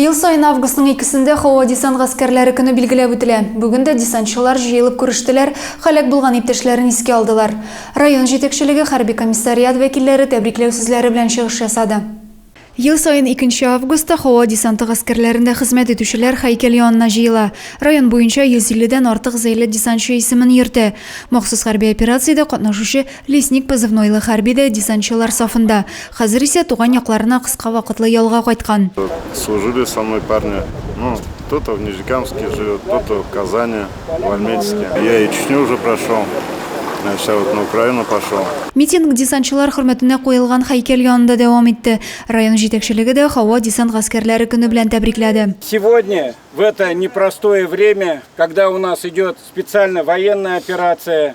Ел саен августның икесендә һава десант гаскәрләре көне билгеләп үтелә. Бүген дә десантчылар җыелып күрештеләр, һәлак булган иптәшләрен искә алдылар. Район җитәкчелеге, хәрби комиссариат вәкилләре тәбрикләү сүзләре белән чыгыш ясады. Ел саен икенче августта һава десанты гаскәрләрендә хезмәт итүчеләр һәйкәл янына җыела. Район буенча 150 дән артык зәйле десантчы исемен йөртә. Махсус хәрби операциядә катнашучы Лесник позывнойлы хәрби дә десантчылар сафында. Хәзер исә туган якларына кыска вакытлы ялга кайткан. Служили со мной парни, ну, кто-то в Нижнекамске живет, кто-то в Казани, в Альметьевске. Я и Чечню уже прошел, значит, а вот на Украину пошел. Митинг десантчылар хөрмәтенә куелган һәйкәл янында дәвам итте. Район җитәкчелеге дә һава десант гаскәрләре көне белән тәбрикләде. Сегодня, в это непростое время, когда у нас идет специальная военная операция,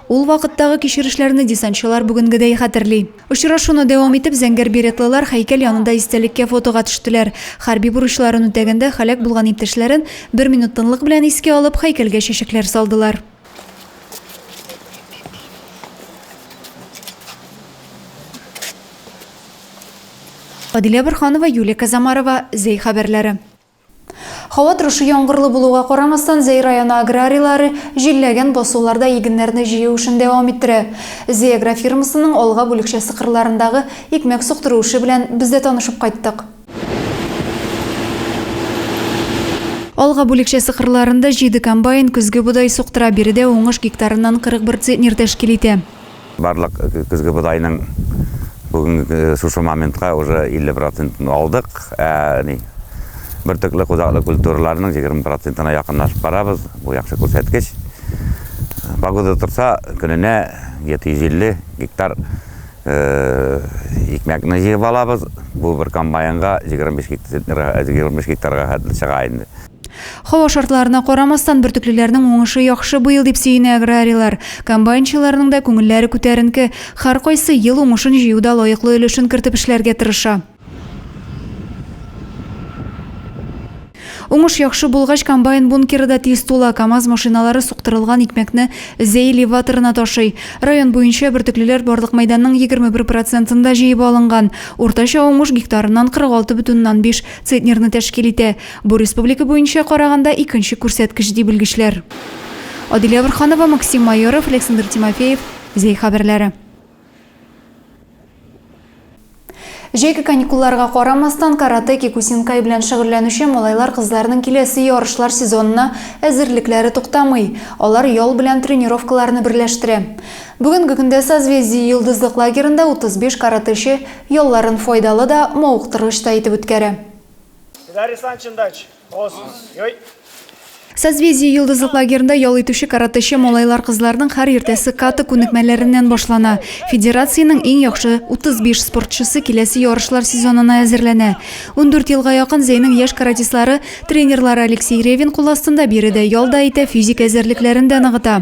Ул вакыттагы кичерешләрне десантчылар бүгенгедәй хәтерли. Очрашуны дәвам итеп, зәңгәр беретлылар һәйкәл янында истәлеккә фотога төштеләр. Хәрби бурычларын үтәгәндә һәлак булган иптәшләрен, бер минут тынлык белән искә алып, һәйкәлгә чәчәкләр салдылар. Адилә Борһанова, Юлия Казамарова, Зәй хәбәрләре. Һава торышы яңгырлы булуга карамастан, Зәй районы аграрийлары җилләгән басуларда игеннәрне җыю эшен дәвам иттерә. Зәй агрофирмасының Алга бүлекчәсе кырларындагы икмәк суктыру эше белән без дә танышып кайттык. Алга бүлекчәсе кырларында җиде комбайн көзге бодай суктыра, биредә уңыш гектарыннан 41 центнер тәшкил итә. Барлык көзге бодайның бүгенге шушы моментка уже 50 процентын алдык. Ә ни бөртекле худаклы культураларның 20 процентына якынлашып барабыз. Бу яхшы күрсәткеч. Погода торса, көненә 750 гектар икмәкне җыеп алабыз. Бу бер комбайнга 25 гектарга хәтле чыга инде. Һава шартларына карамастан, бөртеклеләрнең уңышы яхшы быел дип сөенә аграрийлар. Комбайнчыларның да күңелләре күтәренке. Һәркайсы ел уңышын җыюда лаеклы өлешен кертеп эшләргә тырыша. Уңыш яхшы булгач, комбайн бункеры да тиз тула. КАМАЗ машиналары суктырылган икмәкне Зәй элеваторына ташый. Район буенча бөртеклеләр барлык мәйданның 21 процентында җыеп алынган. Уртача уңыш гектарыннан 46,5 центнерны тәшкил итә. Бу республика буенча караганда икенче күрсәткеч, ди белгечләр. Адилә Борһанова, Максим Майоров, Александр Тимофеев, Зәй хәбәрләре. Җәйге каникулларга карамастан, каратэ, кикусинкай белән шөгыльләнүче малайлар-кызларның киләсе ярышлар сезонына әзерлекләре туктамый. Алар ял белән тренировкаларны берләштерә. Бүгенге көндә Созвездие йолдызлык лагерында 35 каратэчы ялларын файдалы да, мавыктыргыч та итеп үткәрә. Дарья Санчин дач, ос, йой. Созвездие йолдызлык лагерында ял итүче каратэче малайлар-кызларның һәр иртәсе ката күнекмәләреннән башлана. Федерациянең иң яхшы 35 спортчысы киләсе ярышлар сезонына әзерләнә. Ундүрт елга якын Зәйнең яшь каратистлары тренерлары Алексей Ревин кул астында биредә ял да итә, физик әзерлекләрен дә ныгыта.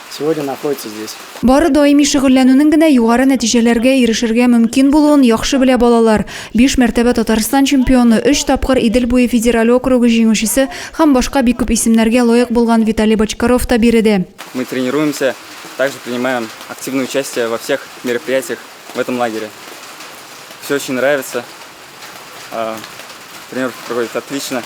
Сегодня находится здесь. Бары даими шөгыльләнүнең генә югары нәтиҗәләргә ирешергә мөмкин булуын яхшы белә балалар. Биш мәртәбә Татарстан чемпионы, өч тапкыр Идел буе федераль округы җиңүчесе һәм башка бик күп исемнәргә лаек булган Виталий Бочкаров та биредә. Мы тренируемся, также принимаем активное участие во всех мероприятиях в этом лагере. Все очень нравится. Тренировка проходит отлично.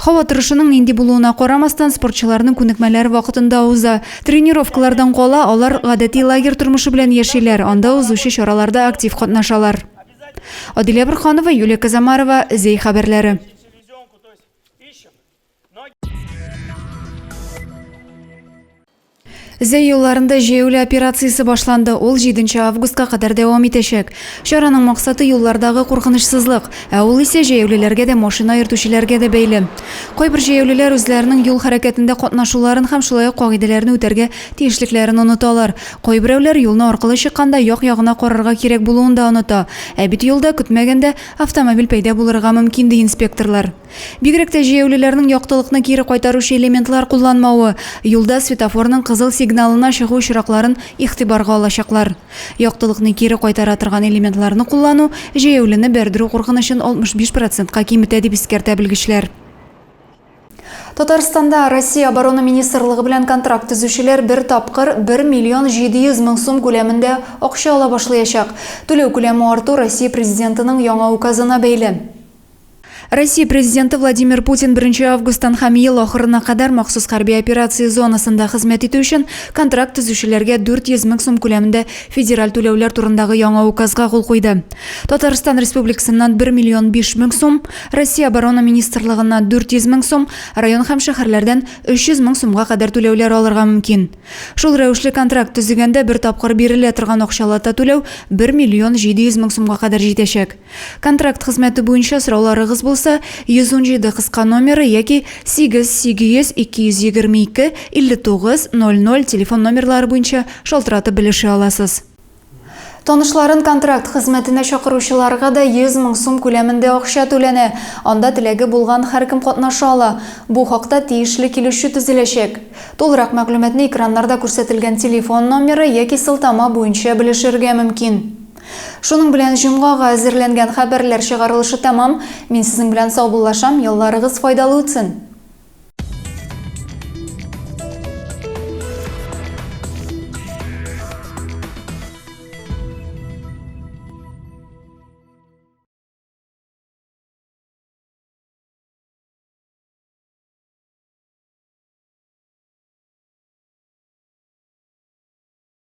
Һава торышының нинди булуына карамастан, спортчыларның күнекмәләре вакытында уза. Тренировкалардан кала, алар гадәти лагерь тормышы белән яшиләр, анда узучы чараларда актив катнашалар. Адилә Бурханова, Юлия Казамарова, Зәй хәбәрләре. Зәй юлларында җәяүле операциясе башланды. Ул 7 августка кадәр дәвам итәчәк. Чараның максаты юллардагы куркынычсызлык, ә ул исә җәяүлеләргә дә, машина йөртүчеләргә дә бәйле. Кайбер җәяүлеләр үзләренең юл хәрәкәтендә катнашуларын һәм шулай ук кагыйдәләрне үтәргә тиешлекләрен оныталар. Кайберәүләр юлны аркылы чыкканда як-ягына карарга кирәк булуын да оныта. Ә бит юлда көтмәгәндә автомобиль пәйда булырга мөмкин, ди инспекторлар. Бигрәк тә җәяүлеләрнең яктылыкны кире кайтаручы элементлар кулланмавы, юлда светофорның кызыл сигналына чыгу очракларын игътибарга алачаклар. Яктылыкны кире кайтара торган элементларны куллану җәяүлене бәрдерү куркынычын 65 процентка киметә, дип искәртә белгечләр. Татарстанда Россия Оборона министрлыгы белән контракт төзүчеләр бер тапкыр 1 миллион 700 мең сум күләмендә акча ала башлаячак. Түләү күләме арту Россия Президентының яңа указына бәйле. Россия Президенты Владимир Путин 1 августтан һәм ел ахырына кадәр махсус хәрби операция зонасында хезмәт итү өчен контракт төзүчеләргә 400 мең сум күләмендә федераль түләүләр турындагы яңа указга кул куйды. Татарстан Республикасыннан 1 миллион 5 мең сум, Россия оборона министрлыгына 400 мең сум, район һәм шәһәрләрдән 300 мең сумга кадәр түләүләр алырга мөмкин. Шул рәвешле контракт төзегәндә бер тапкыр бирелә торган акчалата түләү 1 миллион 700 мең сумга кадәр җитәчәк. Контракт хезмәте буенча сорауларыгыз булса, 117 кыска номеры яки 8 800 222 59 00 телефон номерлары буенча шалтыратып белешә аласыз. Танышларын контракт хезмәтенә чакыручыларга да 100 мең сум күләмендә акча түләнә. Анда теләге булган һәркем катнаша ала. Бу хакта тиешле килешү төзеләчәк. Тулырак мәгълүматны экраннарда күрсәтелгән телефон номеры яки сылтама буенча белешергә мөмкин. Шуның белән җомгага әзерләнгән хәбәрләр чыгарылышы тәмам. Мин сезнең белән саубуллашам, елларыгыз файдалы үтсен!